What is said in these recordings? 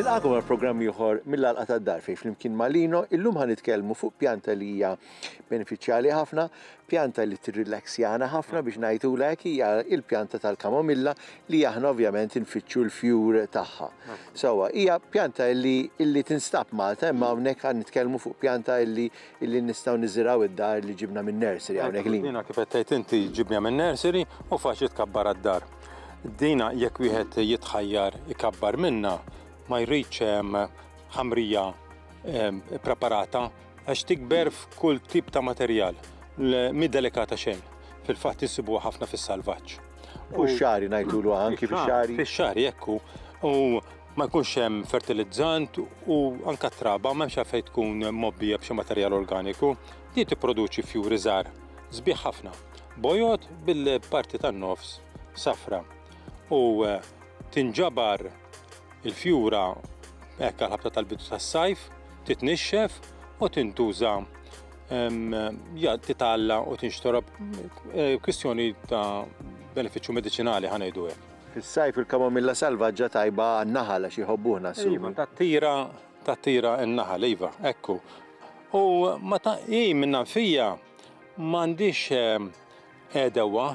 Nilqagħkom għal programm ieħor mill-Għalqa tad-Dar fejn flimkien ma' Lino illum ħa nitkellmu fuq pjanta li hija benefiċjali ħafna, pjanta li tirrilaxjana ħafna biex ngħidula hekk hija il-pjanta tal-kamomilla li aħna ovvjament infittxu l-fjur tagħha. Sewwa, hija pjanta li illi tinstab Malta imma hawnhekk għan nitkellmu fuq pjanta illi illi nistgħu niżiraw id-dar li ġibna minn nursery hawnhekk li. Dina kif qed tgħid inti ġibniha minn nursery u faċli tkabbar għad-dar. Dina jekk wieħed jitħajjar ikabbar minnha ma jridx ħamrija preparata Għax tikber f'kull tip ta' materjal, mhi delikata xejn. Fil-fatt insibuha ħafna fis-salvaġġ. U x-xagħri ngħidulu anki fix-xagħri? Fix-xagħri hekk hu. U ma jkunx hemm fertilizzant u anke t-traba m'hemmx għalfejn tkun mgħobbija b'xi materjal organiku. Din tipproduċi fjuri żgħar sbieħ ħafna, bojod bil-parti tan-nofs safra u tinġabar. Il-fjura hekk għal-ħabta tal-bidu tas-sajf titnixxef u tintuża titalla u tinxtorob eh, kwistjoni ta' benefiċċju mediċinali ħanejdu hekk. Fis-sajf il-kamomilla salvaġġa tajba għan-naħal għax jħobbuħna s Iva, tat-tira tat-tira n-naħal, iva, ekku. U ma ta' hi minna fija m'għandix eh, Għedewwa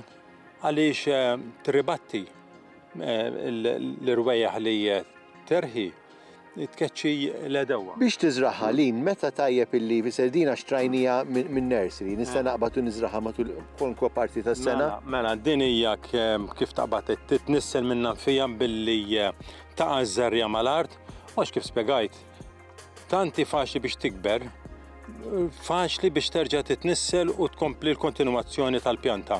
għaliex tirribatti l-irwejjaħ li terħi tkeċċi l-għedewwa. Biex tiżragħha, Lynn, meta tajjeb illi fisser din għax trajnija min-nursery, nista' naqbad u niżragħha matul kwalunkwe parti tas-sena? Mela, mela, din hija kif taqbad titnissel minnha nfija billi taqa' ż-żerriegħa mal-art u għax kif spjegajt, Tant hi faċli biex tikber, faċli biex terġa' titnissel u tkompli l-kontinwazzjoni tal-pjanta.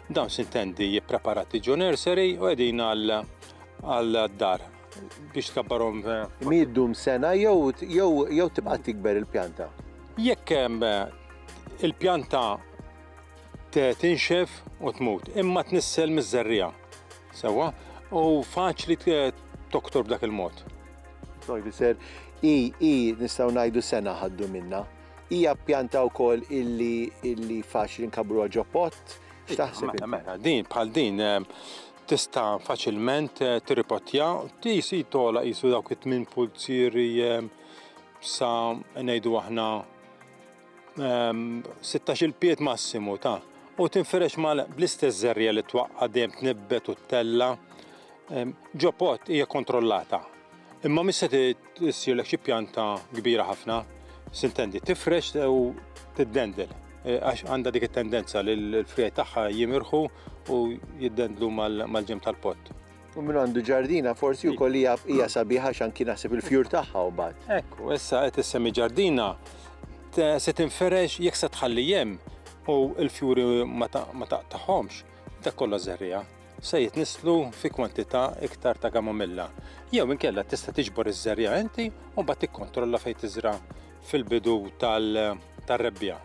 Dawn sintendi jippreparati ġo nursery u qegħdin għal-dar biex tkabbarhom. Mi ddum sena jew tibqa' tikber il-pjanta? Jekk il-pjanta tinxef u tmut, imma tnissel miż-żerriegħa, sewwa, u faċli toktor b'dak il-mod. Neuwisser, i, i nistgħu ngħidu sena ħaddu minna. Hija pjanta wkoll illi illi faċli nkabruha ġo pott. X'taħseb? Mela, mela, din bħal din eh, tista' faċilment eh, tirripottja, tisi tola jisu dawk it-tmin pulzieri eh, sa ngħidu aħna 16-il pied massimu ta' u tinferex mal bl-istess żerrija li twaqqa' dejjem tnibbet u ttella' ġo pot hija kontrollata. Imma mhix se issirlek xi pjanta kbira ħafna, sintendi, tifrex u tiddendel e, għax għandha dik it-tendenza li l-frijaj tagħha jimirħu u jiddendlu mal-ġenb tal-pott. U minn għandu ġardina forsi u koll hija sabiħa xan kien naħseb il-fjur tagħha u bad. Ekku, issa qed issemmi ġardina se tinferex jekk se tħalli jem u l-fjuri ma taqtaħomx, dak kollha żerrija se jitnislu fi kwantità iktar ta' gamomilla. Jew inkella tista' tiġbor iż-żerja inti u mbagħad tikkontrolla fejn tiżra fil-bidu tal-rebbija.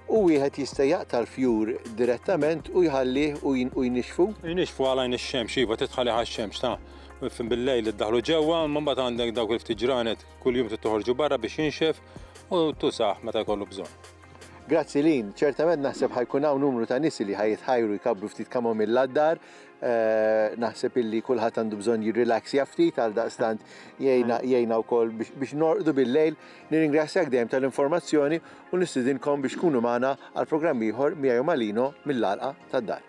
U wieħed jista' jaqta' l-fjur direttament u jħallih u u jnixxfu? Jnixxfu għal għajn ix-xemx, iva, trid tħallih għax-xemx, ta. Fin bil-lejl iddaħħlu ġewwa, imma mbagħad għandek dawk il-ftit ġranet kuljum trid toħorġu barra biex jinxef u tużah meta jkollu bżonn. Grazzi Lynn, ċertament naħseb ħa jkun hawn numru ta' nies li ħa jitħajru jkabbru ftit kamomilla d-dar, naħseb illi kulħadd għandu bżonn jirrilaxja ftit għaldaqstant jgħinna jgħinna wkoll biex biex norqdu bil-lejl Nirringrazzjak dejjem tal-informazzjoni u nistidinkom biex tkunu magħna għal programm ieħor miegħi u ma' Lino mill-Għalqa tad-Dar.